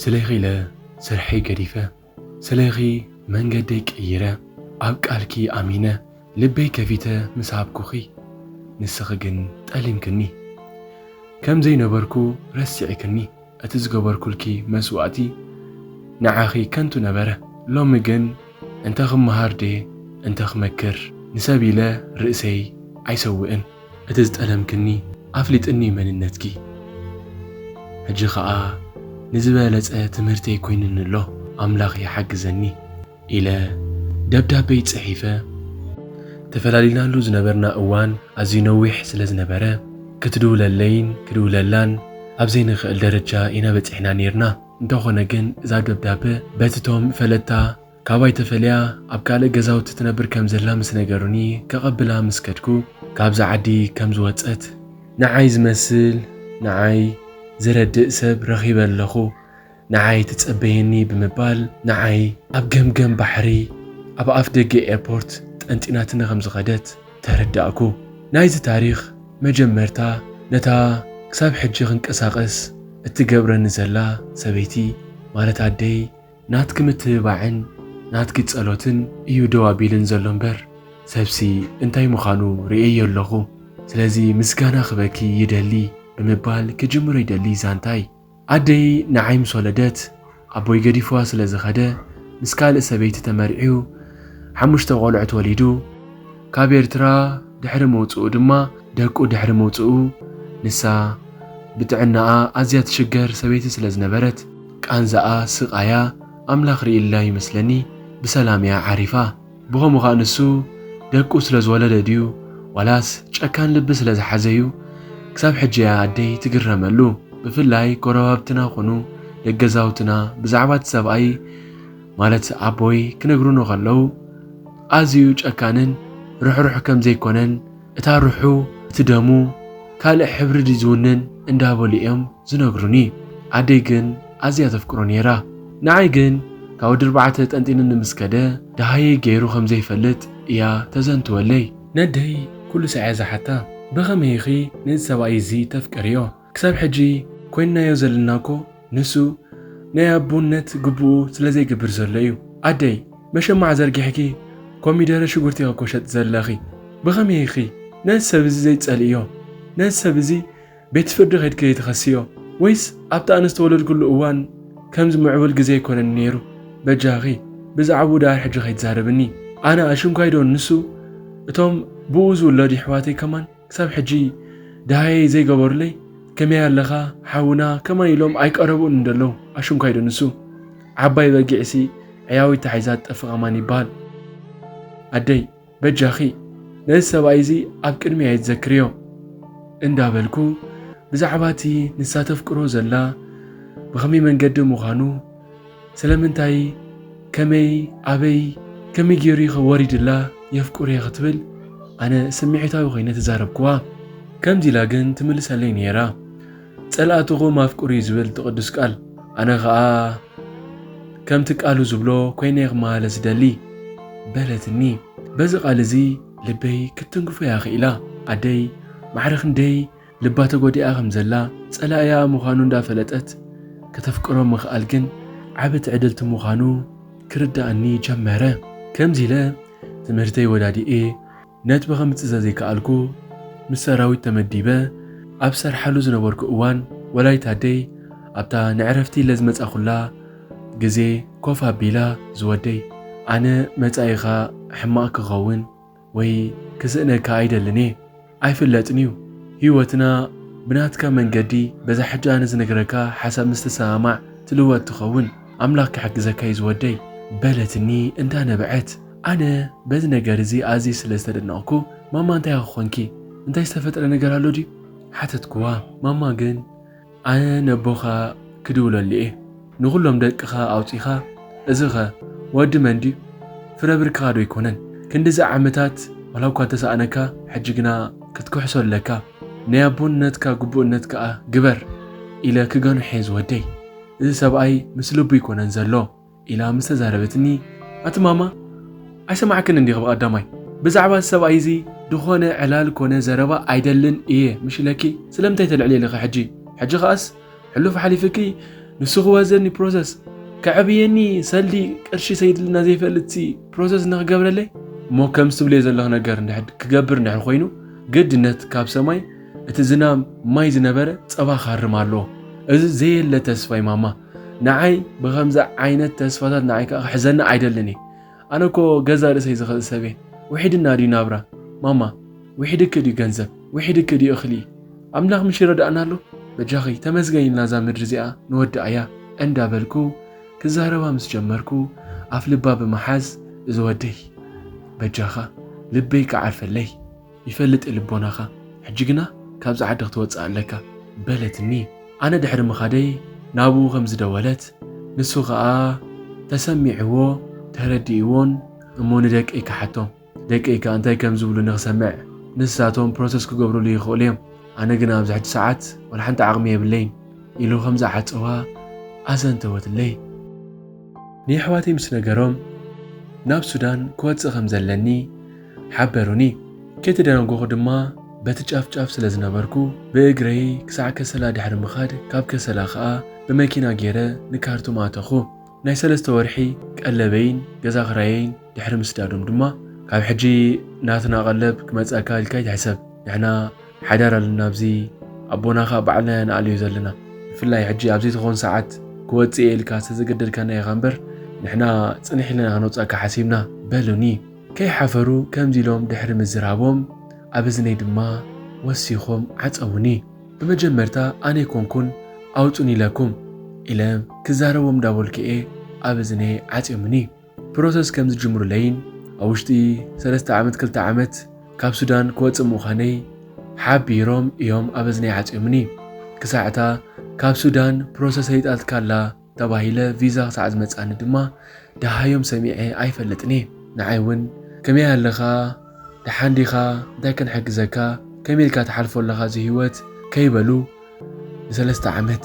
ስለኺ ኢለ ስርሐይ ገዲፈ ስለኺ መንገደይ ቀይረ ኣብ ቃልኪ ኣሚነ ልበይ ከፊተ ምስ ሃብኩኺ ንስኺ ግን ጠሊምክኒ ከም ዘይነበርኩ ረሲዕክኒ እቲ ዝገበርኩልኪ መስዋእቲ ንዓኺ ከንቱ ነበረ። ሎሚ ግን እንተ ኽመሃር ድየ እንተ ኽመክር፣ ንሰብ ኢለ ርእሰይ ኣይሰውእን። እቲ ዝጠለምክኒ ኣፍሊጥኒ መንነትኪ፣ ሕጂ ኸኣ ንዝበለጸ ትምህርተይ ኰይኑኒ ኣሎ። ኣምላኽ ይሓግዘኒ። ኢለ ደብዳበይ ጽሒፈ። ተፈላሊናሉ ዝነበርና እዋን ኣዝዩ ነዊሕ ስለ ዝነበረ፣ ክትድውለለይን ክድውለላን ኣብ ዘይንኽእል ደረጃ ኢና በጺሕና ኔርና። እንተኾነ ግን እዛ ደብዳበ በቲ ቶም ፈለጥታ ካባይ ተፈልያ ኣብ ካልእ ገዛውቲ ትነብር ከም ዘላ ምስ ነገሩኒ ከቐብላ ምስ ከድኩ ካብዛ ዓዲ ከም ዝወጸት ንዓይ ዝመስል ንዓይ ዝረድእ ሰብ ረኺበ ኣለኹ። ንዓይ ትጸበየኒ ብምባል ንዓይ ኣብ ገምገም ባሕሪ ኣብ ኣፍ ደገ ኤርፖርት ጠንጢናትኒ ከም ዝኸደት ተረዳእኩ። ናይዚ ታሪኽ መጀመርታ ነታ ክሳብ ሕጂ ክንቀሳቐስ እትገብረኒ ዘላ ሰበይቲ ማለት ኣደይ፣ ናትኪ ምትብባዕን ናትኪ ጸሎትን እዩ ደው ኣቢልኒ ዘሎ እምበር ሰብሲ እንታይ ምዃኑ ርእየዮ ኣለኹ። ስለዚ ምስጋና ክበኪ ይደሊ ብምባል ክጅምሮ ይደሊ ዛንታይ። ኣደይ ንዓይ ምስ ወለደት ኣቦይ ገዲፍዋ ስለ ዝኸደ ምስ ካልእ ሰበይቲ ተመርዕዩ ሓሙሽተ ቆልዑት ወሊዱ ካብ ኤርትራ ድሕሪ ምውጽኡ ድማ ደቁ ድሕሪ ምውጽኡ ንሳ ብጥዕናኣ ኣዝያ ትሽገር ሰበይቲ ስለ ዝነበረት ቃንዛኣ ስቃያ ኣምላኽ ሪኢላ ይመስለኒ ብሰላም እያ ዓሪፋ። ብኸምኡ ኸኣ ንሱ ደቁ ስለ ዝወለደ ድዩ ዋላስ ጨካን ልቢ ስለ ዝሓዘ እዩ? ክሳብ ሕጂ እያ ኣደይ ትግረመሉ። ብፍላይ ጎረባብትና ኹኑ ደገዛውትና ብዛዕባ እቲ ሰብኣይ ማለት ኣቦይ ክነግሩኒ ከለዉ ኣዝዩ ጨካንን ርሕሩሕ ከም ዘይኮነን እታ ርሑ እቲ ደሙ ካልእ ሕብሪ ድዩ ዝውንን እንዳበሉ እዮም ዝነግሩኒ። ኣደይ ግን ኣዝያ ተፍቅሮ ነይራ። ንዓይ ግን ካብ ወዲ ኣርባዕተ ጠንጢንኒ ምስ ከደ ደሃየይ ገይሩ ከም ዘይፈልጥ እያ ተዘንትወለይ። ነደይ ኩሉ ሳዕ እያ ዝሓታ ብኸመይ ኢኺ ነዚ ሰብኣይ እዚ ተፍቅርዮ? ክሳብ ሕጂ ኮይንናዮ ዘለና እኮ ንሱ ናይ ኣቦነት ግቡኡ ስለ ዘይግብር ዘሎ እዩ። ኣደይ መሸማዕ ዘርጊሕኪ ኮሚደረ ሽጉርቲ እኮ ሸጢ ዘለኺ ብኸመይ ኢኺ ነዚ ሰብ እዚ ዘይትጸልእዮ? ነዚ ሰብ እዚ ቤት ፍርዲ ከድኪ ዘይትኸስዮ? ወይስ ኣብቲ ኣነ ዝተወለድኩሉ እዋን ከምዚ ምዕቡል ግዜ ኣይኮነን ኔሩ? በጃኺ ብዛዕብኡ ደኣር ሕጂ ከይትዛረብኒ። ኣነ ኣሽንኳይ ዶ ንሱ እቶም ብኡ ዝውለዱ የሕዋተይ ከማን? ክሳብ ሕጂ ደሃየይ ዘይገበሩለይ ከመይ ኣለኻ ሓውና ከማይ ኢሎም ኣይቀረቡን እንደለው ኣሽንኳይ ዶ ንሱ ዓባይ በጊዕሲ ዕያዊት ተሓይዛ ትጠፍእ ከማን ይበሃል ኣደይ በጃኺ ነዚ ሰብኣይ እዚ ኣብ ቅድሚ ኣይትዘክርዮ እንዳበልኩ ብዛዕባ እቲ ንሳ ተፍቅሮ ዘላ ብኸመይ መንገዲ ምዃኑ ስለምንታይ ከመይ ኣበይ ከመይ ጌሩ'ኸ ወሪድላ የፍቅር'የ ክትብል ኣነ ስምዒታዊ ኮይነ ተዛረብክዋ። ከምዚ ኢላ ግን ትምልሰለይ ኔራ ጸላእትኹም ኣፍቅሩ'ዩ ዝብል እቲ ቅዱስ ቃል ኣነ ከኣ ከምቲ ቃሉ ዝብሎ ኮይነ'የ ክመሃለ ዝደሊ በለትኒ። በዚ ቃል እዚ ልበይ ክትትንክፎ'ያ ክኢላ። ኣደይ ማዕረ ክንደይ ልባ ተጎዲኣ ከም ዘላ ጸላኢኣ ምዃኑ እንዳ ፈለጠት ከተፍቅሮ ምኽኣል ግን ዓቢ ትዕድልቲ ምዃኑ ክርድኣኒ ጀመረ። ከምዚ ኢለ ትምህርተይ ወዳዲኤ ነጥቢ ከምጽእ ዘዘይከኣልኩ ምስ ሰራዊት ተመዲበ ኣብ ዝሰርሓሉ ዝነበርኩ እዋን ወላዲት ኣደይ ኣብታ ንዕረፍቲ ኢለ ዝመጻኹላ ግዜ ኮፍ ኣቢላ ዝወደይ ኣነ መጻኢኻ ሕማቕ ክኸውን ወይ ክስእነካ ኣይደልን እየ ኣይፍለጥን እዩ ሂወትና ብናትካ መንገዲ በዛ ሕጂ ኣነ ዝነግረካ ሓሳብ ምስ ትሰማማዕ ትልወጥ ትኸውን ኣምላክ ክሕግዘካ እዩ ዝወደይ በለትኒ እንዳ ነበዐት ኣነ በዚ ነገር እዚ ኣዝየ ስለ ዝተደነቅኩ ማማ እንታይ ኢኪ ኮንኪ እንታይ ዝተፈጥረ ነገር ኣሎ ድዩ ሓተትክዋ ማማ ግን ኣነ ነቦኻ ክድውለሉ'የ፣ ንኹሎም ደቅኻ ኣውጺኻ፣ እዚኸ ወዲ መን ድዩ? ፍረ ብርክኻዶ ኣይኮነን? ክንድዚ ዓመታት ዋላ'ኳ እንተሰኣነካ፣ ሕጂ ግና ክትክሕሶ ኣለካ፣ ናይ ኣቦነትካ ግቡእነት ከኣ ግበር ኢለ ክገንሖ'የ ዝወደይ። እዚ ሰብኣይ ምስ ልቡ ኣይኮነን ዘሎ። ኢላ ምስ ተዛረበትኒ፣ ኣቲ ማማ ኣይሰማዕክንን ዲኺ ብቐዳማይ ብዛዕባ እዚ ሰብኣይ እዚ ድኾነ ዕላል ኮነ ዘረባ ኣይደልን እየ ምሽ ኢለኪ ስለምንታይ ተልዕልልኺ ሕጂ ሕጂ ኸኣስ ሕሉፍ ሓሊፍኪ ንሱ ክወዘኒ ፕሮሰስ ከዕብየኒ ሰልዲ ቅርሺ ሰይድልና ዘይፈልጥሲ ፕሮሰስ ንኽገብረለይ እሞ ከምዚ ትብልዮ ዘለኺ ነገር እንድሕር ክገብር እንድሕር ኮይኑ ግድነት ካብ ሰማይ እቲ ዝናም ማይ ዝነበረ ጸባ ክሃርም ኣለዎ እዚ ዘየለ ተስፋይ ማማ ንዓይ ብኸምዚ ዓይነት ተስፋታት ንዓይ ከዓ ክሕዘኒ ኣይደልን እየ ኣነ እኮ ገዛ ርእሰይ ዝኽእል ሰብ እየ ውሒድና ድዩ ናብራ ማማ ውሒድኪ ድዩ ገንዘብ ውሒድኪ ድዩ እኽሊ ኣምላኽ ምሽ ይረዳእና ኣሎ በጃኺ ተመስገን ኢልና እዛ ምድሪ እዚኣ ንወድኣያ እንዳበልኩ ክዛረባ ምስ ጀመርኩ ኣፍ ልባ ብምሓዝ እዚ ወደይ በጃኻ ልበይ ክዓርፈለይ ይፈልጥ እየ ልቦናኻ ሕጂ ግና ካብዚ ዓዲ ክትወጽእ ኣለካ በለትኒ ኣነ ድሕሪ ምኻደይ ናብኡ ከም ዝደወለት ንሱ ከኣ ተሰሚዕዎ ተረዲእዎን እሞ ንደቀይ ክሓቶም ደቀይ ከኣ እንታይ ከም ዝብሉኒ ክሰምዕ ንሳቶም ፕሮሰስ ክገብርሉ ይኽእሉ እዮም ኣነ ግና ኣብዚ ሕጂ ሰዓት ወላ ሓንቲ ዓቕሚ የብለይን ኢሉ ከም ዝዓጸዋ ኣዘንተወትለይ። ንየሕዋተይ ምስ ነገሮም ናብ ሱዳን ክወጽእ ከም ዘለኒ፣ ሓበሩኒ። ከይተደናገኹ ድማ በቲ ጫፍ ጫፍ ስለ ዝነበርኩ ብእግረይ ክሳዕ ከሰላ ድሕሪ ምኻድ ካብ ከሰላ ከኣ ብመኪና ገይረ ንካርቱም ኣተኹ። ናይ ሰለስተ ወርሒ ቀለበይን ገዛ ክራየይን ድሕሪ ምስዳዶም ድማ። ካብ ሕጂ ናትና ቀለብ ክመጸካ ኢልካ ኣይትሕሰብ፣ ንሕና ሓዳር ኣለና ኣብዚ ኣቦና ከኣ ባዕልና ኢና ንኣልዮ ዘለና፣ ብፍላይ ሕጂ ኣብ ዘይትኾን ሰዓት ክወጽእ እየ ኢልካ ስለ ዘገደድካና ኢኻ እምበር ንሕና ጽንሕ ኢልና ኢና ክነውጽኣካ ሓሲብና በሉኒ። ከይሓፈሩ ከምዚ ኢሎም ድሕሪ ምዝራቦም ኣብ እዝነይ ድማ ወሲኾም ዓጸዉኒ። ብመጀመርታ ኣነይኮንኩን ኣዉጹኒ ኢለኩም ኢለ ክዛረቦም እንዳበልኩ'የ ኣብ እዝነይ ዓጽዮምኒ። ፕሮሰስ ከምዝጅምሩለይን ኣብ ዉሽጢ ሰለስተ ዓመት ክልተ ዓመት ካብ ሱዳን ክወጽእ ምዃነይ ሓቢሮም እዮም ኣብ እዝነይ ዓጽዮምኒ። ክሳዕ'ታ ካብ ሱዳን ፕሮሰሰይ ይጣልትካ'ላ ተባሂለ ቪዛ ክሳዕ ዝመጻኒ ድማ ደሃዮም ሰሚዐ ኣይፈልጥን እየ። ንዓይ እውን ከመይ ኣለኻ ደሓን ዲኻ እንታይ ክንሕግዘካ ከመይ ኢልካ ትሓልፎ ኣለኻ እዚ ህይወት ከይበሉ ንሰለስተ ዓመት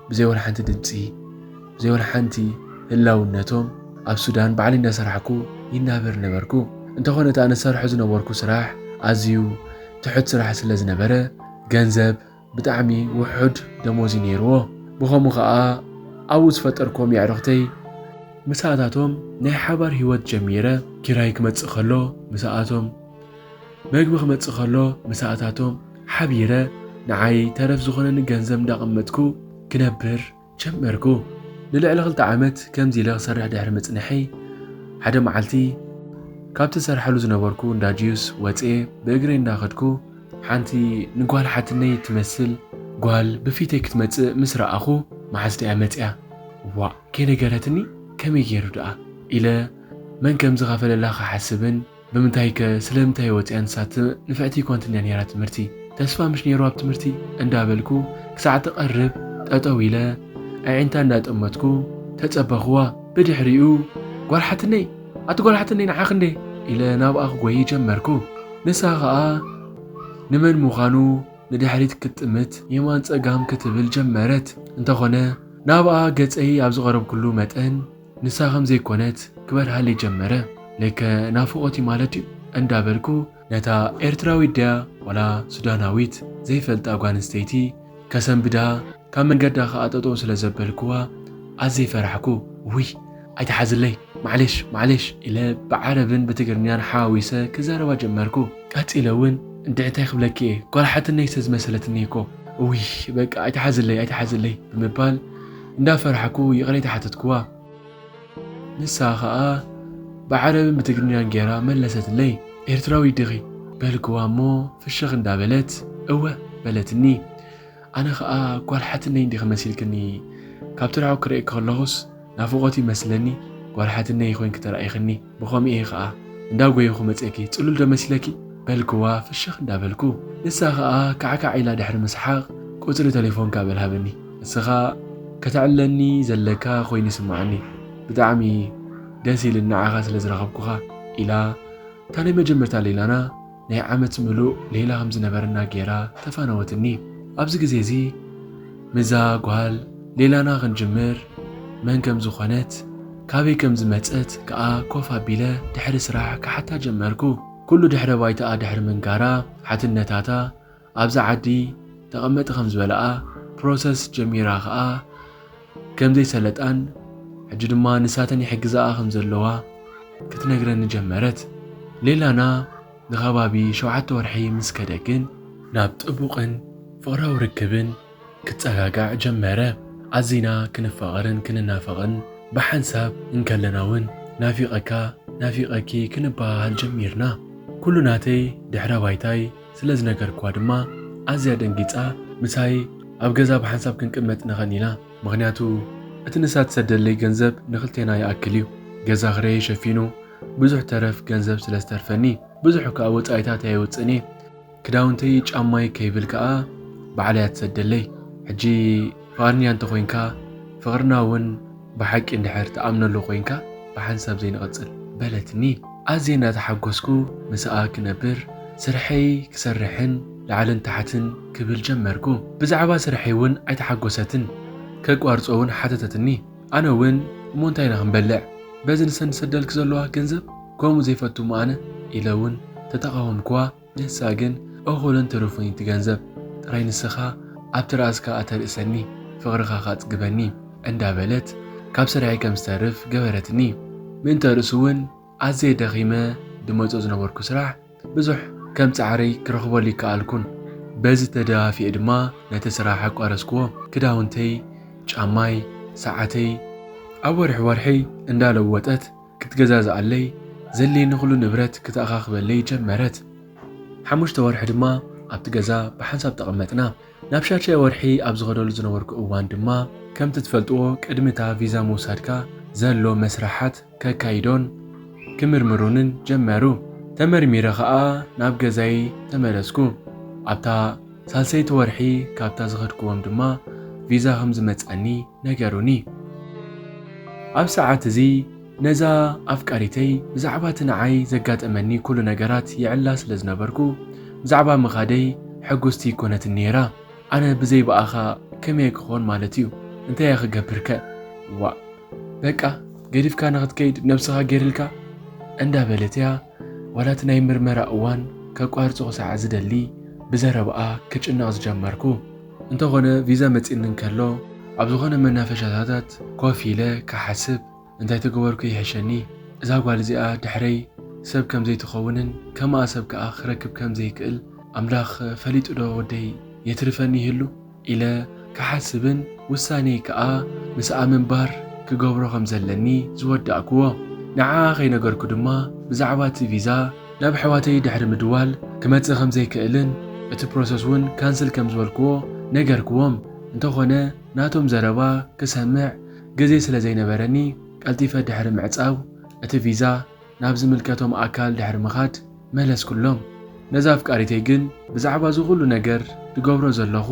ብዘይ ወላ ሓንቲ ድምፂ ብዘይ ወላ ሓንቲ ህላውነቶም ኣብ ሱዳን ባዕሊ እናሰራሕኩ ይናበር ነበርኩ። እንተኾነ እቲ ኣነ ዝሰርሖ ዝነበርኩ ስራሕ ኣዝዩ ትሑት ስራሕ ስለ ዝነበረ ገንዘብ ብጣዕሚ ውሑድ ደሞዝ እዩ ነይርዎ ብኸምኡ ኸኣ ኣብኡ ዝፈጠርክዎም የዕሩኽተይ ምሳኣታቶም ናይ ሓባር ሂወት ጀሚረ ኪራይ ክመጽእ ከሎ ምሳኣቶም መግቢ ክመጽእ ከሎ ምሳኣታቶም ሓቢረ ንዓይ ተረፍ ዝኾነኒ ገንዘብ እንዳቐመጥኩ ክነብር ጀመርኩ። ንልዕሊ ክልተ ዓመት ከምዚ ኢለ ክሰርሕ ድሕሪ ምጽንሐይ፣ ሓደ መዓልቲ ካብቲ ዝሰርሓሉ ዝነበርኩ እንዳ ጁስ ወጽየ ብእግረይ እናኸድኩ፣ ሓንቲ ንጓል ሓትነይ እትመስል ጓል ብፊተይ ክትመጽእ ምስ ረኣኹ፣ መሓዝተይ'ያ መጺኣ፣ ዋእ ከይነገረትኒ ከመይ ገይሩ ደኣ ኢለ መን ከም ዝኸፈለላ ክሓስብን፣ ብምንታይ ከ ስለምንታይ ወጽያ ንሳት ንፍዕቲ ኮንትንድያ ኔራ ትምህርቲ ተስፋ ምሽ ኔሩ ኣብ ትምህርቲ እንዳ በልኩ ክሳዕ ትቀርብ ጠጠው ኢለ ኣዒንታ እንዳ ጠመትኩ ተጸበክዋ ብድሕሪኡ ጓል ሓትነይ ኣቲ ጓል ሓትነይ ንዓኺ እንዴ ኢለ ናብኣ ክጎይ ጀመርኩ ንሳ ከኣ ንመን ምዃኑ ንድሕሪት ክትጥምት የማን ጸጋም ክትብል ጀመረት እንተኾነ ናብኣ ገጸይ ኣብ ዝቀረብኩሉ መጠን ንሳ ከም ዘይኮነት ክበርሃለይ ጀመረ። ልከ ናፍቖት እዩ ማለት ድዩ? እንዳ በልኩ ነታ ኤርትራዊት ድያ ዋላ ሱዳናዊት ዘይፈልጣ ጓል ኣንስተይቲ ከሰንብዳ ካብ መንገዳ ከኣ ጠጠው ስለ ዘበልኩዋ ኣዝየ ፈራሕኩ። ውይ ኣይትሓዝለይ ማዕሌሽ ማዕሌሽ ኢለ ብዓረብን ብትግርኛን ሓዋዊሰ ክዛረባ ጀመርኩ። ቀጺለ እውን እንድዒ እንታይ ክብለኪ እየ ጓል ሓትነይ ስለ ዝመሰለትኒ እኮ። ውይ በቃ ኣይትሓዝለይ ኣይትሓዝለይ ብምባል እንዳፈራሕኩ ይቕሬታ ሓተትክዋ። ንሳ ኸኣ ብዓረብን ብትግርኛን ጌራ መለሰትለይ። ኤርትራዊት ዲኺ? በልክዋ እሞ ፍሽኽ እንዳበለት እወ በለትኒ። ኣነ ኸኣ ጓል ሓትነይ ዲኺ መሲልክኒ ካብቲ ርሑቕ ክርእየኪ ከለኹስ ናፍቖት ይመስለኒ ጓል ሓትነይ ኮይንኪ ተራኢኽኒ። ብኸምኡ'የ ኸኣ እንዳ ጎየኹ መጺኤኪ ጽሉል'ዶ መሲለኪ? በልክዋ ፍሽኽ እንዳ በልኩ። ንሳ ኸኣ ካዕካዕ ኢላ ድሕሪ ምስሓቕ ቁጽሪ ተሌፎንካ በል ሃበኒ። ንስኻ ከተዕልለኒ ዘለካ ኮይኑ ይስምዓኒ። ብጣዕሚ ደስ ኢሉኒ ንዓኻ ስለ ዝረኸብኩኻ ኢላ እታ ናይ መጀመርታ ሌላና ናይ ዓመት ምሉእ ሌላ ከም ዝነበረና ገይራ ተፋነወትኒ። ኣብዚ ግዜ እዚ ምስዛ ጓል ሌላና ክንጅምር መን ከም ዝኾነት ካበይ ከም ዝመጸት ከኣ ኮፍ ኣቢለ ድሕሪ ስራሕ ክሓታ ጀመርኩ። ኩሉ ድሕረ ባይታኣ ድሕሪ ምንጋራ ሓትነታታ ኣብዛ ዓዲ ተቐመጢ ከም ዝበለኣ ፕሮሰስ ጀሚራ ከኣ ከም ዘይሰለጣን ሕጂ ድማ ንሳተን ይሕግዛኣ ከም ዘለዋ ክትነግረኒ ጀመረት። ሌላና ንኸባቢ ሸውዓተ ወርሒ ምስ ከደ ግን ናብ ጥቡቕን ፍቕራዊ ርክብን ክጸጋጋዕ ጀመረ። ኣዚና ክንፋቐርን ክንናፈቕን ብሓንሳብ እንከለና ውን ናፊቐካ ናፊቐኪ ክንበሃሃል ጀሚርና። ኩሉ ናተይ ድሕረ ባይታይ ስለ ዝነገርክዋ ድማ ኣዝያ ደንጊጻ ምሳይ ኣብ ገዛ ብሓንሳብ ክንቅመጥ ንኸን ኢና ምኽንያቱ እቲ ንሳ ትሰደለይ ገንዘብ ንኽልቴና ይኣክል እዩ ገዛ ክረየይ ሸፊኑ ብዙሕ ተረፍ ገንዘብ ስለ ዝተርፈኒ ብዙሕ ክኣ ወጻኢታት ኣየውጽእን እየ ክዳውንተይ ጫማይ ከይብል ክኣ ባዕላ እያ ትሰደለይ ሕጂ ፍቃድንያ እንተኮይንካ ፍቅርና ውን ብሓቂ እንድሕር ትኣምነሉ ኮይንካ ብሓንሳብ ዘይንቅጽል በለትኒ ኣዝየ እንዳተሓጎስኩ ምሳኣ ክነብር ስርሐይ ክሰርሕን ላዕልን ታሕትን ክብል ጀመርኩ ብዛዕባ ስርሐይ ውን ኣይተሓጎሰትን ከቋርጾ ውን ሓተተትኒ ኣነ ውን እሞ እንታይ ኢና ክንበልዕ በዚ ንሰን ዝሰደልኪ ዘለዋ ገንዘብ ከምኡ ዘይፈቱ እሞ ኣነ ኢለ ውን ተተቃወምክዋ ንሳ ግን እኹልን ትሩፍን እቲ ገንዘብ ጥራይ ንስኻ ኣብ ትርኣስካ ኣተርእሰኒ ፍቕርኻ ካጽግበኒ እንዳ በለት ካብ ስርሐይ ከም ዝተርፍ ገበረትኒ ምእንተ ርእሱ ውን ኣዝየ ደኺመ ድመጾ ዝነበርኩ ስራሕ ብዙሕ ከም ጻዕረይ ክረኽበሉ ኣይከኣልኩን በዚ ተደፋፊኤ ድማ ነቲ ስራሕ ኣቋረጽክዎ ክዳውንተይ ጫማይ ሰዓተይ ኣብ ወርሒ ወርሒ እንዳ ለወጠት ክትገዛዝኣለይ፣ ዘድልየኒ ዅሉ ንብረት ክተኣኻኽበለይ ጀመረት። ሓሙሽተ ወርሒ ድማ ኣብቲ ገዛ ብሓንሳብ ተቐመጥና። ናብ ሻድሻይ ወርሒ ኣብ ዝኸደሉ ዝነበርኩ እዋን ድማ፣ ከምቲ ትፈልጥዎ ቅድሚ እታ ቪዛ ምውሳድካ ዘሎ መስርሓት ከካይዶን ክምርምሩንን ጀመሩ። ተመርሚረ ኸኣ ናብ ገዛይ ተመለስኩ። ኣብታ። ሳልሰይቲ ወርሒ ካብታ ዝኸድክዎም ድማ ቪዛ ከም ዝመጽኣኒ ነገሩኒ። ኣብ ሰዓት እዚ ነዛ ኣፍቃሪተይ ብዛዕባ እቲ ንዓይ ዘጋጠመኒ ኩሉ ነገራት ይዕላ ስለ ዝነበርኩ ብዛዕባ ምኻደይ ሕጉስቲ ኣይኮነትን ነይራ። ኣነ ብዘይ ብኣኻ ከመይ ክኾን ማለት እዩ እንታይ እየ ክገብር ከ ዋእ በቃ ገዲፍካ ንኽትከይድ ነብስኻ ገይርልካ እንዳበለት እያ ዋላ እቲ ናይ ምርመራ እዋን ከቋርጾ ክሳዕ ዝደሊ ብዘረብኣ ክጭነቕ ዝጀመርኩ። እንተኾነ ቪዛ መጺእኒ እንከሎ ኣብ ዝኾነ መናፈሻታታት ኮፍ ኢለ ክሓስብ እንታይ ተገበርኩ ይሕሸኒ። እዛ ጓል እዚኣ ድሕረይ ሰብ ከም ዘይትኸውንን ከምኣ ሰብ ከኣ ክረክብ ከም ዘይክእል ኣምላኽ ፈሊጡዶ ወደይ የትርፈኒ ይህሉ? ኢለ ክሓስብን ውሳኔይ ከኣ ምስኣ ምንባር ክገብሮ ከም ዘለኒ ዝወዳእኩዎ። ንዓኣ ከይነገርኩ ድማ ብዛዕባ እቲ ቪዛ ናብ ኣሕዋተይ ድሕሪ ምድዋል ክመጽእ ከም ዘይክእልን እቲ ፕሮሰስ ውን ካንስል ከም ዝበልኩዎ ነገርኩዎም። እንተኾነ ናቶም ዘረባ ክሰምዕ ግዜ ስለ ዘይነበረኒ ቀልጢፈ ድሕሪ ምዕጻው እቲ ቪዛ። ናብ ዝምልከቶም ኣካል ድሕሪ ምኻድ መለስኩሎም። ነዛ ኣፍቃሪተይ ግን ብዛዕባ እዚ ኹሉ ነገር ዝገብሮ ዘለኹ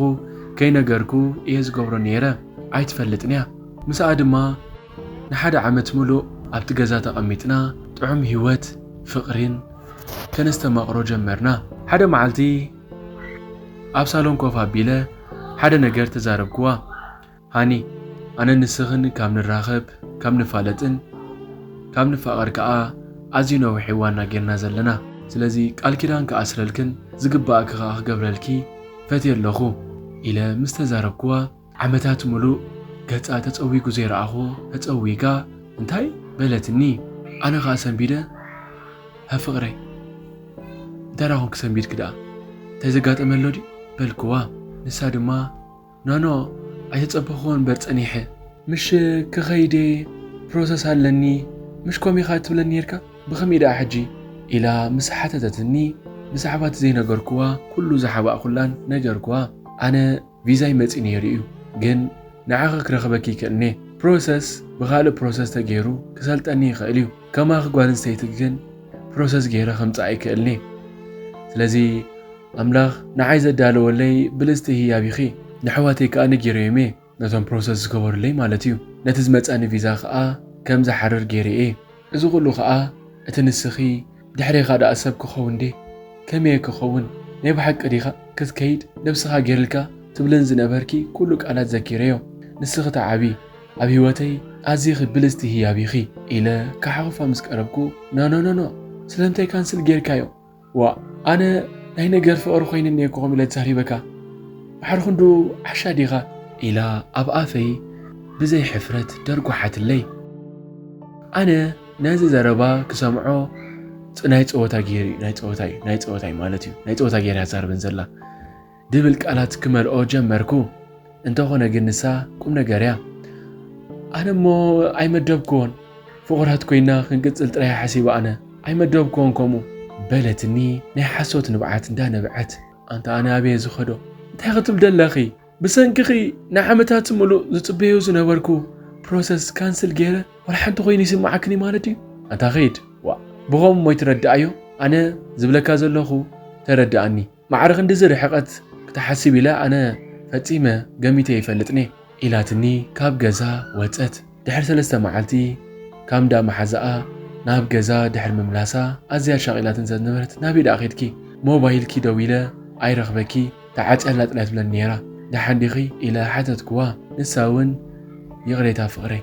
ከይነገርኩ እየ ዝገብሮ ነይረ። ኣይትፈልጥን እያ። ምስኣ ድማ ንሓደ ዓመት ምሉእ ኣብቲ ገዛ ተቐሚጥና ጥዑም ህይወት ፍቕሪን ከነስተማቕሮ ጀመርና። ሓደ መዓልቲ ኣብ ሳሎን ኮፍ ኣቢለ ሓደ ነገር ተዛረብክዋ። ሃኒ ኣነን ንስኽን ካብ ንራኸብ ካብ ንፋለጥን ካብ ንፋቐር ከኣ ኣዝዩ ነዊሕ እዋን እና ጌርና ዘለና ስለዚ ቃል ኪዳን ክኣስረልክን ዝግበኣኪ ከኣ ክገብረልኪ ፈትየ ኣለኹ ኢለ ምስ ተዛረብክዋ ዓመታት ምሉእ ገጻ ተጸዊጉ ዘይረኣኽዎ ተጸዊጋ እንታይ በለትኒ ኣነ ከኣ ሰንቢደ ሃ ፍቕረይ እንታይ ደኣ ኮንኪ ሰንቢድኪ ደኣ እንታይ ዘጋጠመ ኣሎ ድዩ በልክዋ ንሳ ድማ ኖኖ ኣይተጸበኽዎን እምበር ጸኒሐ። ምሽ ክኸይድ'የ ፕሮሰስ ኣለኒ ምሽ ከምኡ ኢኻ እትብለኒ ኔርካ ብኸመይ ደኣ ሕጂ? ኢላ ምስ ሓተተትኒ ብዛዕባ'ቲ ዘይነገርክዋ ኩሉ ዝሓባእኩላን ነገርክዋ። ኣነ ቪዛይ መጺኡ ኔሩ'ዩ ግን ንዓኺ ክረኽበኪ ይክእልን'የ ፕሮሰስ ብኻልእ ፕሮሰስ ተጌሩ ክሰልጠኒ ይኽእል'ዩ ከማኺ ጓልንስተይቲ ግን ፕሮሰስ ጌረ ከምጽኣ ኣይክእልን'የ ስለዚ ኣምላኽ ንዓይ ዘዳለወለይ ብልጽቲ ህያብ ኢኺ፣ ነሕዋተይ ከኣ ነጊረዮም'የ፣ ነቶም ፕሮሰስ ዝገበሩለይ ማለት'ዩ፣ ነቲ ዝመጻኒ ቪዛ ከኣ ከም ዝሓርር ጌረ'የ፣ እዚ ኩሉ ከኣ እቲ ንስኺ ድሕሬኻ ደኣ ሰብ ክኸውን ድየ ከመይ'የ ክኸውን ናይ ብሓቂ ዲኻ ክትከይድ ነብስኻ ጌርልካ ትብልን ዝነበርኪ ኩሉ ቃላት ዘኪረዮ ንስኺ ትዓብዪ ኣብ ሂወተይ ኣዚኺ ብልጽቲ ህያብ ኢኺ ኢለ ክሓኹፋ ምስ ቀረብኩ ኖኖኖኖ ስለምንታይ ካንስል ጌርካዮ ዋእ ኣነ ናይ ነገር ፍቕሪ ኮይንኒ እየ እኮ ከምኡ ኢለ ተዛሪበካ ባሕሪ ክንዱ ዓሻ ዲኻ? ኢላ ኣብ ኣፈይ ብዘይ ሕፍረት ደርጓሓትለይ። ኣነ ነዚ ዘረባ ክሰምዖ ናይ ፀወታ ገይሩ እዩ ናይ ፀወታ እዩ ናይ ፀወታ እዩ ማለት እዩ ናይ ፀወታ ገይራ እያ ትዛረበኒ ዘላ ድብል ቃላት ክመልኦ ጀመርኩ። እንተኾነ ግን ንሳ ቁም ነገር እያ። ኣነ እሞ ኣይመደብክዎን ፍቑራት ኮይና ክንቅጽል ጥራይ ሓሲበ ኣነ ኣይመደብክዎን ከምኡ በለትኒ ናይ ሓሶት ንብዓት እንዳነብዐት። ኣንታ ኣነ ኣበየ ዝኸዶ እንታይ ክትብል ደለኺ ብሰንክኺ ንዓመታት ምሉእ ዝጽበዮ ዝነበርኩ ፕሮሰስ ካንስል ገይረ ዋላ ሓንቲ ኮይኑ ይስምዓክን እዩ ማለት እዩ ኣንታ ኸይድ ዋ ብኸምኡ እሞ ይትረድኣዮ ኣነ ዝብለካ ዘለኹ ተረድኣኒ ማዕረ ክንድዚ ርሕቐት ክትሓስብ ኢለ ኣነ ፈጺመ ገሚተ ኣይፈልጥን'የ። ኢላትኒ ካብ ገዛ ወጸት። ድሕሪ ሰለስተ መዓልቲ ካብ እንዳ መሓዛኣ ናብ ገዛ ድሕሪ ምምላሳ ኣዝያ ኣሻቒላትኒ ስለ ዝነበረት ናበይ ደኣ ኬድኪ? ሞባይልኪ ደዊለ ኣይረኽበኪ ተዓጽያ ኣላ ጥልያ ትብለኒ ነይራ። ደሓን ዲኺ? ኢለ ሓተትክዋ። ንሳ'ውን ይቕሬታ ፍቕረይ!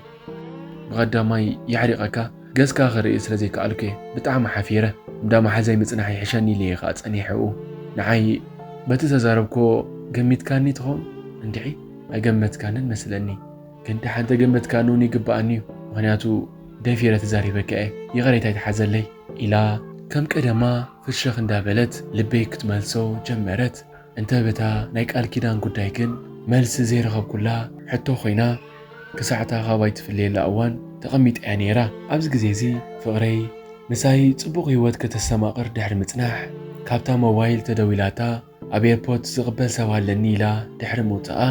ብቀዳማይ የዕሪቀካ ገጽካ ክርኢ ስለ ዘይከኣልኩ'የ ብጣዕሚ ሓፊረ እንዳ መሓዛይ ምጽናሕ ይሕሸኒ ኢለ'የ ከኣ ጸኒሐኡ ንዓይ በቲ ዝተዛረብክዎ ገሚትካኒ ትኾን እንድዒ ኣይገመትካንን መስለኒ ግን ደሓን ተገመትካኒ ውን ይግበኣኒ'ዩ ምኽንያቱ ደፊረ ተዛሪበካ'የ ይቕሬታ ይትሓዘለይ ኢላ ከም ቀደማ ፍሸኽ እንዳበለት ልበይ ክትመልሶ ጀመረት። እንተ በታ ናይ ቃል ኪዳን ጉዳይ ግን መልሲ ዘይረኸብኩላ ሕቶ ኮይና ክሳዕ'ታ ካባይ ትፍለየላ እዋን ተቐሚጣ'ያ ነይራ። ኣብዚ ግዜ'ዚ ፍቕረይ ምሳይ ጽቡቕ ህይወት ከተስተማቕር ድሕሪ ምጽናሕ፣ ካብታ ሞባይል ተደዊላታ ኣብ ኤርፖት ዝቕበል ሰብ ኣለኒ ኢላ ድሕሪ ምውጻኣ፣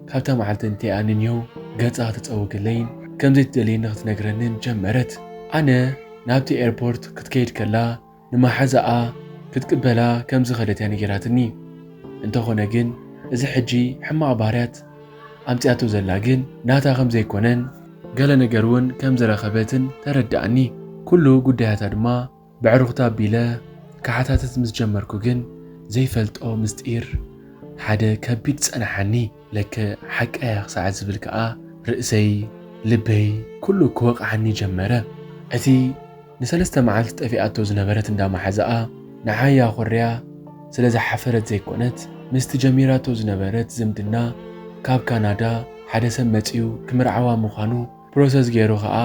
ካብታ መዓልቲ እንተይኣ ንኒሆ ገጻ ክተጸውገለይን ከምዘይትደልየኒ ክትነግረንን ጀመረት። ኣነ ናብቲ ኤርፖርት ክትከይድ ከላ ንማሓዛኣ ክትቅበላ ከም ዝኸደት እያ ነጊራትኒ እንተኾነ ግን እዚ ሕጂ ሕማቕ ባህርያት ኣምጺኣቶ ዘላ ግን ናታ ከም ዘይኮነን ገለ ነገር ውን ከም ዝረኸበትን ተረድኣኒ ኩሉ ጉዳያታ ድማ በዕሩኽታ ኣቢለ ክሓታትት ምስ ጀመርኩ ግን ዘይፈልጦ ምስጢር ሓደ ከቢድ ጸናሓኒ ለከ ሓቃ እያ ክሳዕ ዝብል ከኣ ርእሰይ ልበይ ኩሉ ክወቕዓኒ ጀመረ እቲ ንሰለስተ መዓልቲ ጠፊኣቶ ዝነበረት እንዳ ማሓዛኣ ንዓያ ኮርያ ስለ ዝሓፈረት ዘይኮነት ምስቲ ጀሚራቶ ዝነበረት ዝምድና ካብ ካናዳ ሓደ ሰብ መጺኡ ክምርዓዋ ምዃኑ ፕሮሰስ ጌሩ ከኣ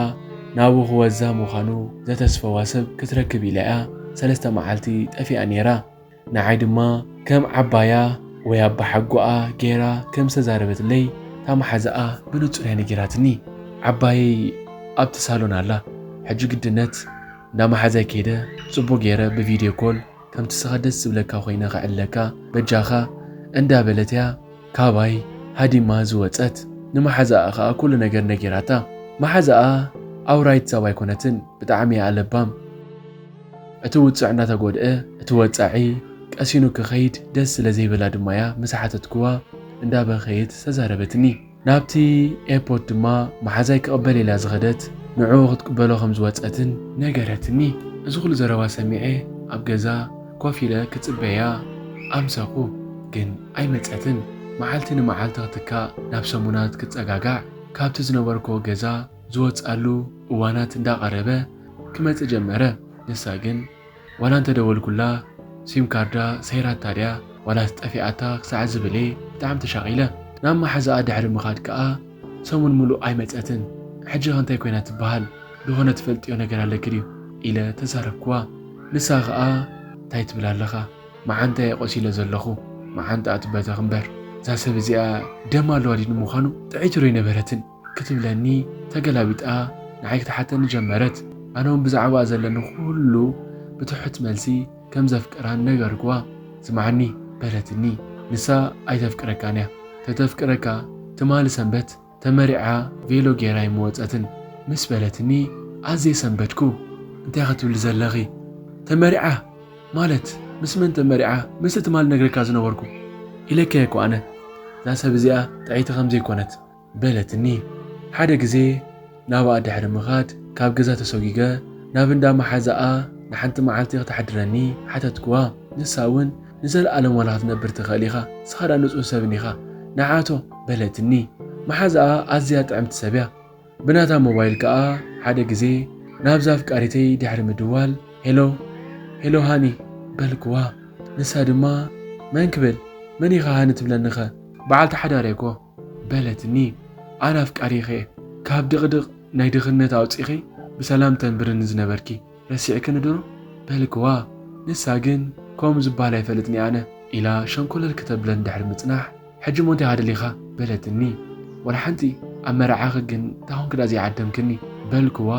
ናብኡ ክወዛ ምዃኑ ዘተስፈዋ ሰብ ክትረክብ ኢላ'ያ ሰለስተ መዓልቲ ጠፊኣ ኔራ። ንዓይ ድማ ከም ዓባያ ወይ ኣባሓጎኣ ገይራ ከም ዝተዛረበትለይ እታ መሓዛኣ ብንጹር እያ ነጊራትኒ። ዓባየይ ኣብቲ ሳሎን ኣላ። ሕጂ ግድነት እንዳ መሓዛይ ከይደ ጽቡቕ ገይረ ብቪድዮ ኮል ከምቲ እስኻ ደስ ዝብለካ ኮይነ ከዕልለካ በጃኻ እንዳ በለት'ያ ካባይ ሃዲማ ዝወጸት። ንመሓዛኣ ከኣ ኩሉ ነገር ነጊራታ። መሓዛኣ ኣውራይት ሰብ ኣይኮነትን ብጣዕሚ'ያ ለባም። እቲ ውጽዕ እንዳተጎድኣ እቲ ወጻዒ ቀሲኑ ክኸይድ ደስ ስለ ዘይበላ ድማ'ያ ምስ ሓተትክዋ እንዳበኸየት ዝተዛረበትኒ። ናብቲ ኤርፖርት ድማ መሓዛይ ክቕበል ኢላ ዝኸደት ንዕኡ ክትቅበሎ ከም ዝወጸትን ነገረትኒ። እዚ ኩሉ ዘረባ ሰሚዐ ኣብ ገዛ ኮፍ ኢለ ክጽበያ ኣምሰኹ። ግን ኣይመጸትን። መዓልቲ ንመዓልቲ ክትካእ ናብ ሰሙናት ክጸጋጋዕ ካብቲ ዝነበርክዎ ገዛ። ዝወጽኣሉ እዋናት እንዳቐረበ ክመጽእ ጀመረ። ንሳ ግን ዋላ እንተደወልኩላ ሲም ካርዳ ሰይራታ ድያ ዋላስ ጠፊኣታ ክሳዕ ዝብል'የ ብጣዕሚ ተሻቒለ። ናብ መሓዛኣ ድሕሪ ምኻድ ከኣ ሰሙን ምሉእ ኣይመጸትን። ሕጂኸ እንታይ ኮይና ትበሃል? ዝኾነ ትፈልጥዮ ነገር ኣለኪ ድዩ? ኢለ ተዛረብክዋ። ንሳ ከኣ እንታይ ትብል ኣለኻ መዓንጣ'የ ቆሲለ ዘለኹ መዓንጣኣ ትበተኽ እምበር። እዛ ሰብ እዚኣ ደም ኣለዋ ድዩ ንምዃኑ? ጥዕይቲ ዶ ኣይነበረትን? ክትብለኒ ተገላቢጣ ንዓይ ክትሓተኒ ጀመረት። ኣነውን ብዛዕባኣ ዘለኒ ኩሉ ብትሑት መልሲ ከም ዘፍቅራን ነገርኩዋ። ስምዓኒ በለትኒ ንሳ ኣይተፍቅረካን እያ ተተፍቅረካ ትማሊ ሰንበት ተመሪዓ ቬሎ ጌራ ኣይምወጸትን ምስ በለትኒ ኣዝየ ሰንበድኩ። እንታይ ኢኺ ትብሊ ዘለኺ ተመሪዓ ማለት ምስ መን ተመሪዓ ምስቲ ትማሊ ነግረካ ዝነበርኩ ኢለኪያ'ኮ ኣነ እዛ ሰብ እዚኣ ጥዕይቲ ከም ዘይኮነት። በለትኒ። ሓደ ግዜ ናብኣ ድሕሪ ምኻድ ካብ ገዛ ተሶጊገ ናብ እንዳ መሓዛኣ ንሓንቲ መዓልቲ ከተሕድረኒ ሓተትክዋ። ንሳ'ውን ንዘልኣለም ዋላ ክትነብር ትኽእል ኢኻ፣ ንስኻ ድኣ ንጹህ ሰብ እኒኻ ንዓቶ በለትኒ። መሓዛኣ ኣዝያ ጥዕምቲ ሰብ'ያ። ብናታ ሞባይል ከኣ ሓደ ግዜ ናብዛ ኣፍቃሪተይ ድሕሪ ምድዋል ሄሎ ሄሎ ሃኒ በልክዋ። ንሳ ድማ መን ክብል መን ኢኻ ሃኒ ትብለኒኸ በዓልቲ ሓዳር'የ'ኮ። በለትኒ ኣን ኣፍቃሪኪ እየ ካብ ድቅድቅ ናይ ድክነት ኣውፂኪ ብሰላም ተንብርኒ ዝነበርኪ ረሲዕክኒ ዶ በልክዋ ንሳ ግን ከምኡ ዝባሃል ኣይፈልጥንየ ኣነ ኢላ ሸንኮለል ክተብለኒ ድሕሪ ምፅናሕ ሕጂ እሞ እንታይ ኣደሊካ በለትኒ ዋላ ሓንቲ ኣብ መርዓኪ ግን እንታይ ኮንኪ ድኣ ዘይዓደምክኒ በልክዋ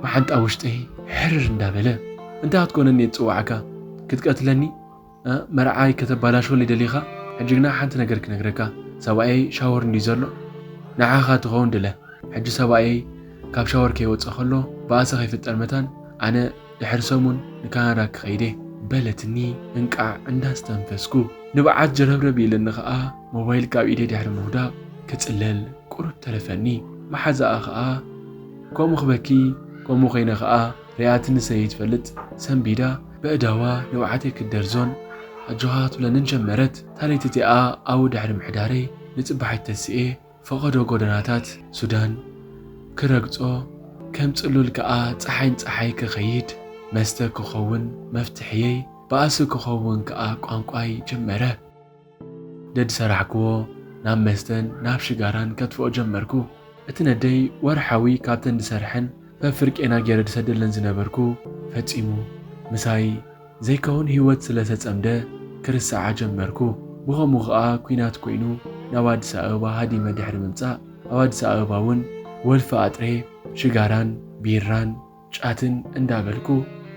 መዓንጣ ውሽጠይ ሕርር እንዳበለ እንታይ ክትኮነኒ እየ ዝፅዋዕካ ክትቀትለኒ መርዓይ ከተባላሽወኒ ደሊኻ ሕጂ ግና ሓንቲ ነገር ክነግረካ ሰብኣየይ ሻወር እንድዩ ዘሎ ንዓኻ ትኸውን ድለ ሕጂ ሰብኣየይ ካብ ሻወር ከይወጸ ከሎ ባእሲ ከይፍጠር መታን ኣነ ድሕሪ ሰሙን ንካናዳ ክኸይድ እየ በለትኒ እንቃዕ እንዳስተንፈስኩ ንብዓት ጀረብረብ ኢለኒ ከኣ ሞባይል ካብ ኢደይ ድሕሪ ምውዳቕ ክጽለል ቁሩብ ተረፈኒ መሓዛኣ ከኣ ከምኡ ክበኪ ከምኡ ኮይነ ከኣ ሪኣትኒ ሰይትፈልጥ ሰንቢዳ በእዳዋ ንብዓተይ ክትደርዞን ኣጆኻ ክትብለንን ጀመረት። እታ ለይቲ እቲኣ ኣብኡ ድሕሪ ምሕዳረይ፣ ንጽባሒት ተሲኤ ፈቐዶ ጎደናታት ሱዳን ክረግጾ፣ ከም ጽሉል ከኣ ጸሓይ ንጸሓይ ክኸይድ፣ መስተ ክኸውን መፍትሒየይ፣ ባእሲ ክኸውን ከኣ ቋንቋይ ጀመረ። ደድሰራሕክዎ ናብ መስተን ናብ ሽጋራን ከትፍኦ ጀመርኩ። እቲ ነደይ ወርሓዊ ካብተን ድሰርሐን ፈፍር ቄና ገይረ ድሰደለን ዝነበርኩ ፈጺሙ ምሳይ ዘይከውን ሂወት ስለሰጸምደ ክርስዓ ጀመርኩ። ብኸምኡ ከኣ ኩናት ኮይኑ ናብ ኣዲስ ኣበባ ሃዲመ ድሕሪ ምምጻእ ኣብ ኣዲስ ኣበባ ውን ወልፊ ኣጥሬ ሽጋራን ቢራን፣ ጫትን እንዳበልኩ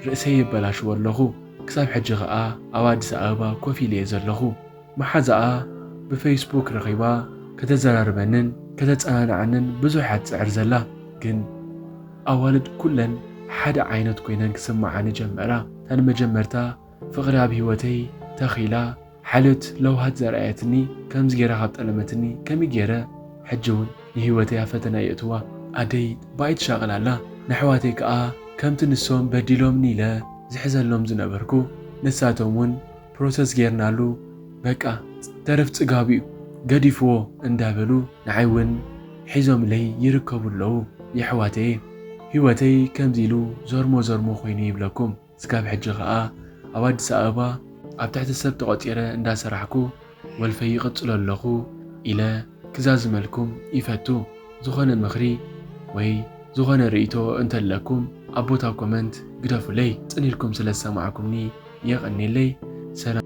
ርእሰይ የበላሽዎ ኣለኹ ክሳብ ሕጂ ከኣ ኣብ ኣዲስ ኣበባ ኮፍ ኢለ'የ ዘለኹ መሓዛኣ ብፈይስቡክ ረኺባ ከተዘራርበንን ከተጸናንዓንን ብዙሕ'ያ ትጽዕር ዘላ ግን ኣዋልድ ኩለን ሓደ ዓይነት ኮይነን ክስምዓኒ ጀመራ እታ ንመጀመርታ ፍቕሪ ኣብ ሂወተይ ተኺላ ሓልዮት ለውሃት ዘርኣየትኒ ከምዚ ጌራ ካብ ጠለመትኒ ከመይ ጌረ ሕጂ ውን ንሂወተይ ኣብ ፈተና የእትዋ ኣደይ ባይ ትሻቅል ኣላ ነሕዋተይ ከኣ ከምቲ ንሶም በዲሎምኒ ኢለ ዝሕዘሎም ዝነበርኩ ንሳቶም ውን ፕሮሰስ ጌርናሉ በቃ ተረፍ ጽጋቡ ዩ ገዲፍዎ እንዳበሉ ንዓይ ውን ሒዞምለይ ይርከቡ ኣለዉ የሕዋተየ ሂወተይ ከምዚ ኢሉ ዞርሞ ዞርሞ ኮይኑ ይብለኩም። ስጋብ ሕጂ ከኣ ኣብ ኣዲስ ኣበባ ኣብ ትሕቲ ሰብ ተቖጺረ እንዳ ሰራሕኩ ወልፈይ ይቕጽሎ ኣለኹ ኢለ ክዛዝመልኩም ይፈቱ ዝኾነ ምኽሪ ወይ ዝኾነ ርእይቶ እንተለኩም ኣብ ቦታ ኮመንት ግደፉለይ ጽን ኢልኩም ስለ ዝሰማዕኩምኒ የቐኔለይ ሰላም